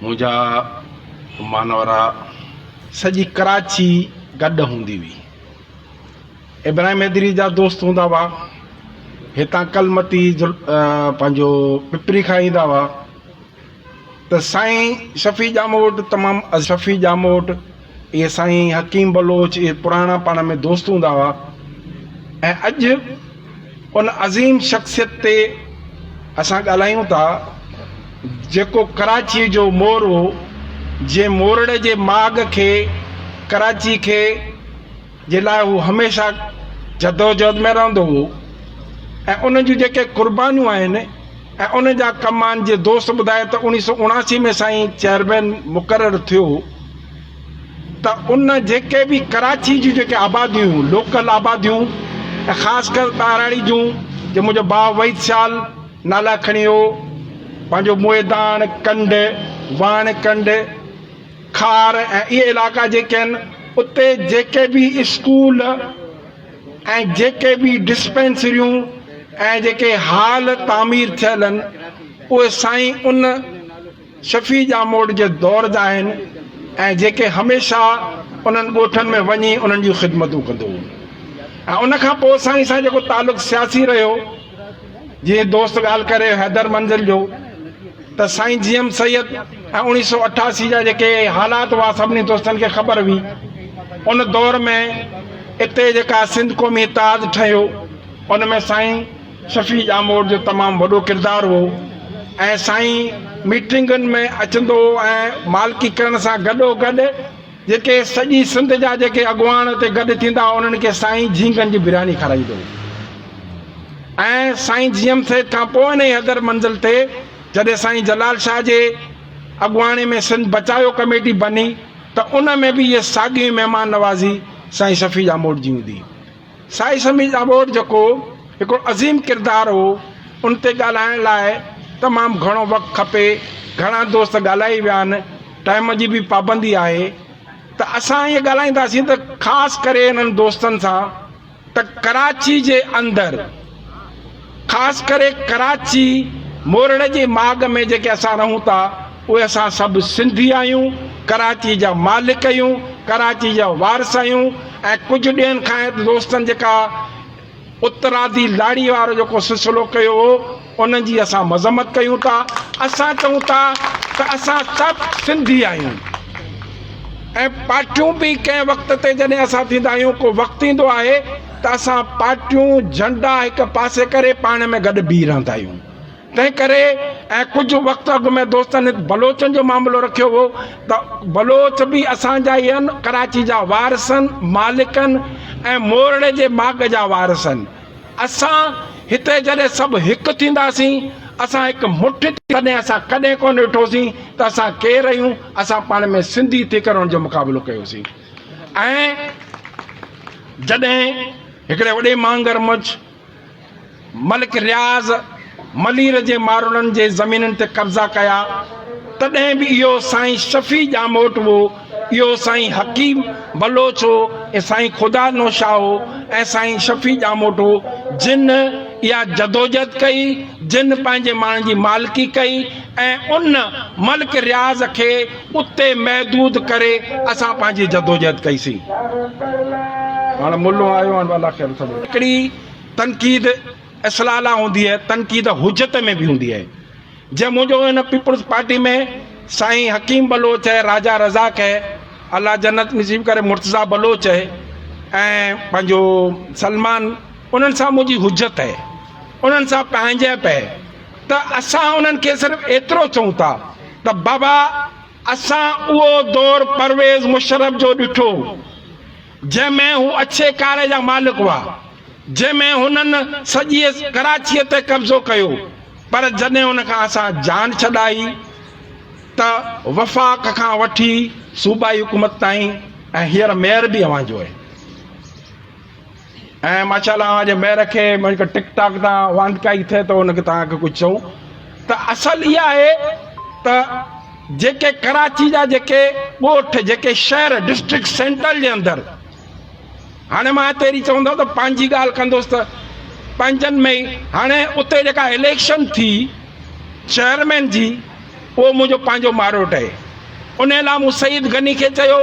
منهنجا مانورا سڄي ڪراچي گڏ هوندي هئي. ابراهيم حيدري جا دوست هوندا هئا. هتان ڪلمتي پنهنجو پپري کان ايندا هئا ته سائين شفيع ڄامو وٽ تمام شفيع ڄامو وٽ اهي سائين حڪيم بلوچ اهي پراڻا پاڻ ۾ دوست هوندا هئا ۽ اڄ ان عظيم شخصيت تي اسان ڳالهايون ٿا جيڪو ڪراچيء جو مور هو جنهن مورڙي جي ماڳ کي ڪراچي کي جي لاء هو هميشه جدوجهد ۾ رهندو هو ۽ ان جون جيڪي قربانيون آهن ۽ ان جا ڪم آهن جي دوست ٻڌائي ته اوڻيهه سؤ اڻاسي ۾ سائين چيئرمين مقرر ٿيو ته ان جيڪي به ڪراچي جون جيڪي آباديون هيون لوڪل آباديون ۽ خاص ڪر ٻهراڙي جون جي منهنجو ڀاء وحيد شال نالا کڻي هو پنهنجو موئي داڻ ڪنڊ واڻ ڪنڊ خار ۽ اهي علائقا جيڪي آهن اتي جيڪي به اسڪول ۽ جيڪي به ڊسپينسريون ۽ جيڪي هال تعمير ٿيل آهن اهي سائين ان شفيع ڄاموٽ جي دور جا آهن ۽ جيڪي هميشه انهن ڳوٺن ۾ وڃي انهن جون خدمتون ڪندو هو ۽ ان کان پوء سائين سان جيڪو تعلق سياسي رهيو جيئن دوست ڳالهه ڪري رهيو حيدر منزل جو ته سائين جي ايم سيد ۽ اوڻيهه سؤ اٺاسي جا جيڪي حالات هئا سڀني دوستن کي خبر هئي ان دور ۾ اتي جيڪا سنڌ قومي اتحاد ٺهيو ان ۾ سائين شفيع ڄاموٽ جو تمام وڏو ڪردار هو ۽ سائين ميٽنگن ۾ اچندو هو ۽ مالڪي ڪرڻ سان گڏو گڏ جيڪي سڄي سنڌ جا جيڪي اڳواڻ اتي گڏ ٿيندا انهن کي سائين جهينگن جي برياني کارائيندو ۽ سائين جيئم سيد کان پوء انهيء حدر منزل تي جڏهن سائين جلال شاهه جي اڳواڻي ۾ سنڌ بچايو ڪميٽي بني ته ان ۾ به اهي ساڳيون ئي مهمان نوازي سائين شفيع ڄاموٽ جي هوندي. سائين سميع ڄاٻوٽ جيڪو هڪڙو عظيم ڪردار هو ان تي ڳالهائڻ لاء تمام گهڻو وقت کپي گهڻا دوست ڳالهائي ويا آهن ٽائيم جي به پابندي آهي ته اسان ائين ڳالهائينداسين ته خاص ڪري انهن دوستن سان ته ڪراچي جي اندر خاص ڪري ڪراچي مورڙ جي ماڳ ۾ جيڪي اسان رهون ٿا اهي اسان سڀ سنڌي آهيون، ڪراچي جا مالڪ اهيون، ڪراچي جا وارث اهيون ۽ ڪجهه ڏينهن کان هت دوستن جيڪا اترادي لاڙي وارو جيڪو سلسلو ڪيو هو انهن جي اسان مذمت ڪيون ٿا اسان چئون ٿا ته اسان سڀ سنڌي آهيون ۽ پارٽيون به ڪنهن وقت تي جڏهن اسان ٿيندا آهيون ڪو وقت ايندو آهي ته اسان پارٽيون، جهنڊا هڪ پاسي ڪري پاڻ ۾ گڏ بيهي رهندا آهيون. تنهن ڪري ۽ ڪجهه وقت اڳ ۾ دوستن هت بلوچن جو معاملو رکيو هو ته بلوچ به اسان جا ئي آهن، ڪراچي جا وارث آهن، مالڪ آهن ۽ مورڙي جي ماڳ جا وارث آهن. اسان هتي جڏهن سڀ هڪ ٿينداسين، اسان هڪ مٺ ٿي تڏهن اسان ڪڏهن ڪونه ڏٺوسين ته اسان ڪير آهيون، اسان پاڻ ۾ سنڌي ٿي ڪري ان جو مقابلو ڪيوسين. ۽ جڏهن هڪڙي وڏي مانگر مچ ملڪ رياض ملير جي مارولن جي زمينن تي قبضا ڪيا تڏهن به اهو سائين شفيع ڄاموٽ هو، اهو سائين حڪيم بلوچ هو ۽ سائين خدا نو شاهه هو ۽ سائين شفيع ڄاموٽ هو جن اها جدوجهد ڪئي جن پنهنجي ماڻهن جي مالڪي ڪئي ۽ ان ملڪ رياض کي اتي محدود ڪري اسان پنهنجي جدوجهد ڪئي سين. هاڻ ملو آيو هاڻ والا خير سڀ. هڪڙي تنقيد اصلاح لاء هوندي آهي تنقيد حجت ۾ به هوندي آهي جنهن منهنجو هن پيپلز پارٽي ۾ سائين حڪيم بلوچ اهي راجا رزاق اهي الله جنت نصيب ڪري مرتضيٰ بلوچ اهي ۽ پنهنجو سلمان انهن سان منهنجي حجت اهي انهن سان پنهنجائپ اهي. ته اسان انهن کي صرف ايترو چئون ٿا ته بابا اسان اهو دور پرويز مشرف جو ڏٺو جنهن ۾ هو اڇي ڪاري جا مالڪ هئا جنهن ۾ هنن سڄيء ڪراچيء تي قبضو ڪيو پر جڏهن ان کان اسان جان ڇڏائي ته وفاق کان وٺي صوبائي حڪومت تائين ۽ هينئر ميئر به اوهان جو آهي. ۽ ماشاء الله اوهان جي مهر کي مون کي ٽڪ ٽاڪ تان واندڪائي ٿئي ته ان کي توهان کي ڪجهه چئون ته اصل اها آهي ته جيڪي ڪراچي جا جيڪي ڳوٺ جيڪي شهر ڊسٽرڪٽ سينٽرل جي اندر هاڻي مان هتي اهڙي چوندو ته پنهنجي ڳالهه ڪندوس ته پنهنجن ۾ ئي هاڻي اتي جيڪا اليڪشن ٿي چيئرمين جي اهو منهنجو پنهنجو ماروٽ اهي. انهيء لاء مون سعيد غني کي چيو،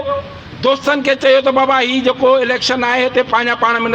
دوستن کي چيو ته بابا هي جيڪو اليڪشن آهي هتي پنهنجا پاڻ ۾ نه